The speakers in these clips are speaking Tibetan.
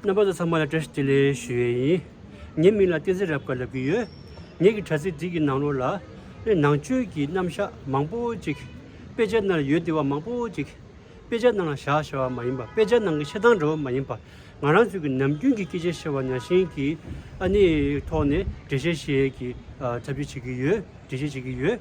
རྣམ་པ་ཚོ་ཚང་མ་ལ་བཀྲ་ཤིས་བདེ་ལེགས་ཞུ་ཡས་ཡིན། ངའི་མིང་ལ་བསྟན་འཛིན་རབ་དཀར་ལབ་གི་ཡོད། ངེད་ཀྱི་དྲ་ཚིགས་འདི་གི་ནང་ལོགས་ལ། ནས་ནང་ཆོས་ཀྱི་རྣམ་བཞག་མང་པོ་ཅིག། དཔེ་ཆ་ནང་ལ་ཡོད་བདེ་བ་མང་པོ་ཅིག། དཔེ་ཆ་ནང་ལ་བཞག་ཞེ་བ་མ་ཡིན་པ་དཔེ་ཆ་ནང་གི་ཆེ་ཐང་འདྲ་བོ་མ་ཡིན་པ། ང་རང་ཚོས་ཀྱི་ནམ་རྒྱུན་གྱི་སྐད་ཆ་བཤད་བ་ན་ཤིང་གི་ཨ་ནེའི་ཐོག་ནས་འགྲེལ་བཤད་བྱེད་ཀྱི་ཐབས་བྱེད་ཀྱི་ཡོད་འགྲེལ་བཤད་བྱེད་ཀྱི་ཡོད།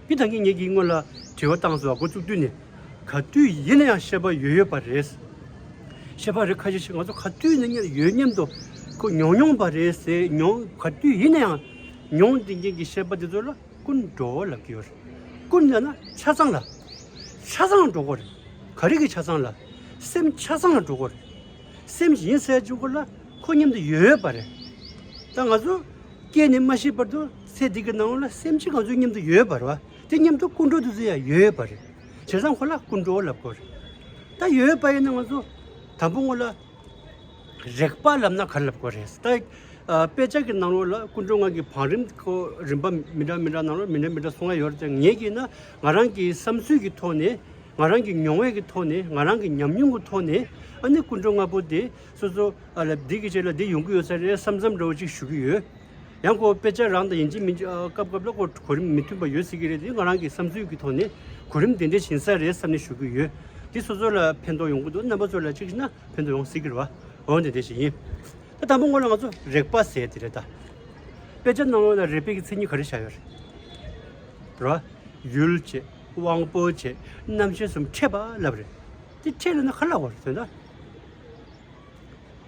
མི་དང་གཉེན་ཉེ་ཀྱི་སྔོན་ལ་དྲི་བ་བཏང་ཟོ་བ་འགོ་བཙུགས་དུས་ནས་ག་དུས་ཡིན་ན་ཡང་ཤེས་པ་ཡོད་ཡོད་པ་རེད། ཤེས་པ་རེད་ཁ་ཤས་ཤིག་ང་ཚོ་ག་དུས་ན་གཉེར་ཡོད་སྙམ་དུ་ཁོ་མྱོང་མྱོང་པ་རེད་ཟེར་མྱོང་ག་དུས་ཡིན་ན་ཡང་མྱོང་དེ་མཁན་གྱི་ཤེས་པ་དེ་ཚོ་ལ་ཀུན་བགྲོ་བ་ལབ་ཀྱི་ཡོད་རེད་ཀུན་ལབ་ན་ཆ་ཚང་ལ་ཆ་ཚང་འགྲོ་གོ་རེད་ག་རེ་གི་ཆ་ཚང་ལ་སེམས་ཆ་ཚང་ལ་འགྲོ་གོ་རེད་སེམས་གཞན་གསལ་བྱུང་གོ་ལ་ཁོ་མཉམ་དུ་ཡོད་པ་རེད་ད་ང་ཚོ་སྐད་ནས་མ་ཤེས་པར་དུ། ཚེ་འདི་གི་ནང་ལ་སེམས་ཅན་གང་ཚོའི་སྙེམས་དུ་ཡོད་པར་བ་དེ་སྙེམས་དུ་ཀུན་འགྲོ་དུ་ཚོད་ཡང་ཡོད་པར་རེད། བྱས་ཙང་ཁོ་ལ་ཀུན་འགྲོ་ལབ་དགོས་རེད། ད་ཡོད་པ་ཡིན་ན་ང་ཚོ་དང་པོ་ངོ་ལ་རེག་པ་ལབ་ན་ག་རེ་ལབ་དགོས་རེད། ད་དཔེ་ཆ་གི་ནང་ལོགས་ལ་ཀུན་འགྲོ་ངང་གིས་བང་རིམ་ཁོ་རིམ་པ་མི་འདྲ་མི་འདྲ་ནང་ལོགས་མི་འདྲ་མི་འདྲ་སོང་ཡ་ཡོད་རེད་ད་ངས་ཀྱིས་ན་ང་རང་གི་བསམ་ཚུལ་གྱི་ཐོག་ནས་ང་རང་གི་མྱོང་བས་ཀྱི་ཐོག་ནས་ང་རང་གི་ཉམས་མྱོང་གི་ཐོག་ནས་ཨ་ནི་ཀུན་འགྲོ་ལྔ་པོ་དེ་སོ་སོ་ལ་འདི་གི་རྗེས་ལ་འདི་ཡོང་གི་ཡོད་ས་རེད་བསམ་བསམ་འདྲ་བོ་ཅིག་ཞུ་གི་ཡོད། ཡང་སྒོ་དཔེ་ཆ་རང་དང་ཡིན་གཅིག་མིན་གཅིག་སྐབས་སྐབས་ལ་གོ་རིམ་མི་མཐུན་པ་ཡོད་སྲིད་ཀྱི་རེད་འདི་ང་རང་གི་བསམ་ཚུལ་གྱི་ཐོག་ནས་གོ་རིམ་དེ་འདྲའི་ཞན་ས་རེད་བསམ་ནས་ཞུ་གི་ཡོད། འདི་སོ་སོ་ལ་ཕན་ཐོགས་ཡོང་གི་འདུག་རྣམ་པ་ཚོ་ལ་གཅིག་ན་ཕན་ཐོགས་ཡོང་སྲིད་ཀྱི་རེད་བ་འོན་ཏེ་དེ་ཞིག་ཡིན། ད་དང་པོ་ངོས་ལ་ང་ཚོ་རེག་པ་ཟེར་དེ་རེད་ད། དཔེ་ཆ་ནང་ལ་རེག་པའི་གི་མཚན་ཉིད་ག་རེ་བཞག་ཡོད་རེད། ར། ཡུལ་བྱེད། དབང་པོ་བྱེད། རྣམ་ཤེས་གསུམ་ཕྲད་པ་ལབ་རེད། དེ་ཕྲད་ལ་ན་ག་ལ་བར་དོན་ད།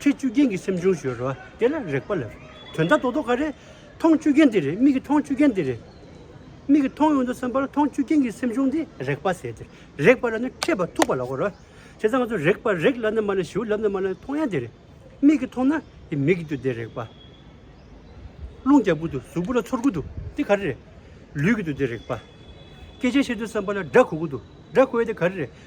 ཁྱེད་བཅུ་རྒྱན་གྱི་སེམས་བྱུང་ཞོལ་རོ། དེ་ལ་རེག་པ་ལ་རེག། དོན་དག་རྡོག་རྡོག་ག་རེ། མཐོང་བཅུ་རྒྱན་དེ་རེ་མིག་གི་མཐོང་བཅུ་རྒྱན་དེ་རེ། མིག་གི་མཐོང་ཡོང་དུ་སེམས་པ་ལ་མཐོང་བཅུ་རྒྱན་གྱི་སེམས་བྱུང་དེ་རེག་པ་ཟེར་ཏེ། རེག་པ་ལ་ནི་མཁས་པ་ཐུག་པ་ལགས་རོ། བྱས་ཙང་ང་ཚོ་རེག་པར་རེག་ལབ་ནི་མ་ལ་ཞིའུ་ལབ་ནི་མ་ལ་མཐོང་ཡང་དེ་རེ། མིག་གིས་མཐོང་ན་དེ་མིག་གི་དུ་དེ་རེག་པ། རླུང་རྒྱག་པོ་དུ་གཟུགས་པོ་ལ་ཚོར་གུ་དུ་དེ་ག་རེ་རེ། ལུས་ཀྱི་དུ་དེ་རེག་པ། སྐད་ཆ་བཤད་དུ་སེམས་པ་ལ་སྒྲ་གོ་གུ་དུ་སྒྲ་གོ་ཡ་དེ་ག་རེ་རེ།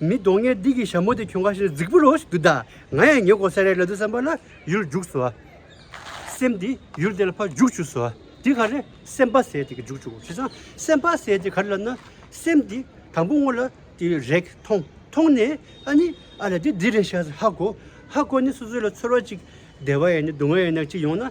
མི་གདོང་ངན་སྡིག་གི་ཞྭ་མོ་དེ་ཁྱོད་ག་ཤེད་ན་རྫིག་པོ་རོ་ཞིག་འདུག་ད་ང་ཡང་ཉེ་འཁོར་ས་རའི་ལ་དུ་བསམ་པ་ལ་ཡུལ་རྒྱུགས་སོ། སེམས་དེ་ཡུལ་དེ་ལ་ཕ་རྒྱུགས་བྱུགས་སོ། དེ་ག་རེ་སེམས་པ་ཟད་དེ་ག་རྒྱུགས་བྱུགས་གོ་བྱས་ཙང་སེམས་པ་ཟད་དེ་ག་རེ་ལབ་ན་སེམས་དེ་དང་པོ་སྔོ་ལ་དེ་རེག་མཐོང་མཐོང་ནས་ཨ་ནི་ཨ་ལ་དེ་འདི་རེད་ཤ་ཟ་ཧ་གོ་ཧ་གོ་ནས་སོ་སོའི་ལ་ཚོར་བ་ཅིག་བདེ་བ་ཡིན་ནས་སྡུག་བསྔལ་ཡིན་ན་ཅིག་ཡོང་ན།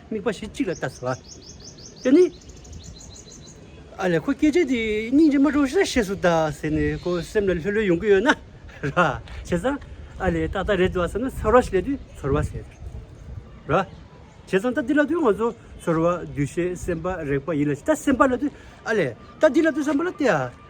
དམིགས་པ་ཞིག་གཅིག་ལ་བལྟ་ཟེར་བ། དེ་ནི། ཨ་ལས་ཁོ་སྐད་ཆ་དེ་སྙིང་རྗེ་མ་གྲོངས་ཤིག་ལ་བཤད་སྲོལ་དང་ཟེར་ནས་ཁོ་སེམས་ལ་ལྷོད་ལྷོད་ཡོང་གི་ཡོད་ན་ར། བྱས་ཙང་ཨ་ལས་ཏག་ཏག་རེད་འདོད་བསམ་ན་ཚོར་བ་ཞིག་ལས་དུས་ཚོར་བ་ཟེར། ར། བྱས་ཙང་ད་འདི་ལ་དུས་ང་ཚོ་ཚོར་བ་འདུ་ཤེས་སེམས་པ་རེག་པ་ཡིན་ལ་ཇི་ལྟར་སེམས་པ་ལ་དུས་ཨ་ལས་ད་འདི་ལ་དུས་བསམ་པ་ལ་བལྟས་ཨ།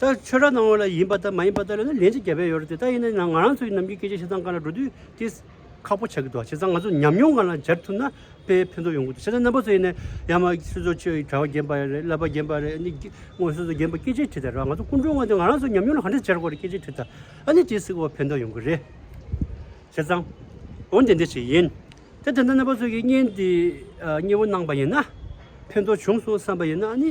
ད་ཆོས་གྲྭ་ནང་བ་ལ་ཡིན་པ་ལྟ་མ་ཡིན་པ་ལྟ་ལས་ན་ལན་ཅིག་བརྒྱ་པས་ཡོད་རེད་དེ་ལྟ་ཡིན་ན་ང་རང་ཚོའི་ནམ་གྱི་སྐད་ཆ་བྱས་ཙང་ག་ལ་འགྲོ་དུས་དེ་ཁག་པོ་ཆགས་ཀྱི་འདུག་བྱས་ཙང་ང་ཚོ་ཉམས་མྱོང་གང་ལ་སྦྱར་ཐུབ་ན་དཔེ་ཕན་ཐོགས་ཡོང་གི་འདུག་བྱས་ཙང་རྣམ་པ་ཚོ་ཡིན་ན་ཡང་མ་སོ་སོ་ཆོས་གྲྭ་བ་རྒན་པ་རེད་བསླབ་པ་རྒན་པ་རེད་ཨ་ནི་དངོས་སོ་སོ་རྒན་པ་སྐད་ཆ་དྲིས་ད་ར་ང་ཚོ་སྐུ་མགྲོན་བ་འདི་ང་རང་ཚོ་ཉམས་མྱོང་ལ་ག་འདྲ་སྦྱར་དགོས་རེད་སྐད་ཆ་དྲིས་ད་ཨ་ནི་དེ་སྲིད་གོ་བ་ཕན་ཐོགས་ཡོང་གི་རེད། བྱས་ཙང། འོན་ཏེ་འདི་ཞིག་ཡིན། དེ་དེ་འདྲ་རྣམ་པ་ཚོ་གིས་བརྙན་འདི་གཉིས་པོ་གནང་པ་ཡིན་ན་ཕན་ཐོགས་བྱུང་སོང་བསམ་པ་ཡིན་ན་ཨ་ནི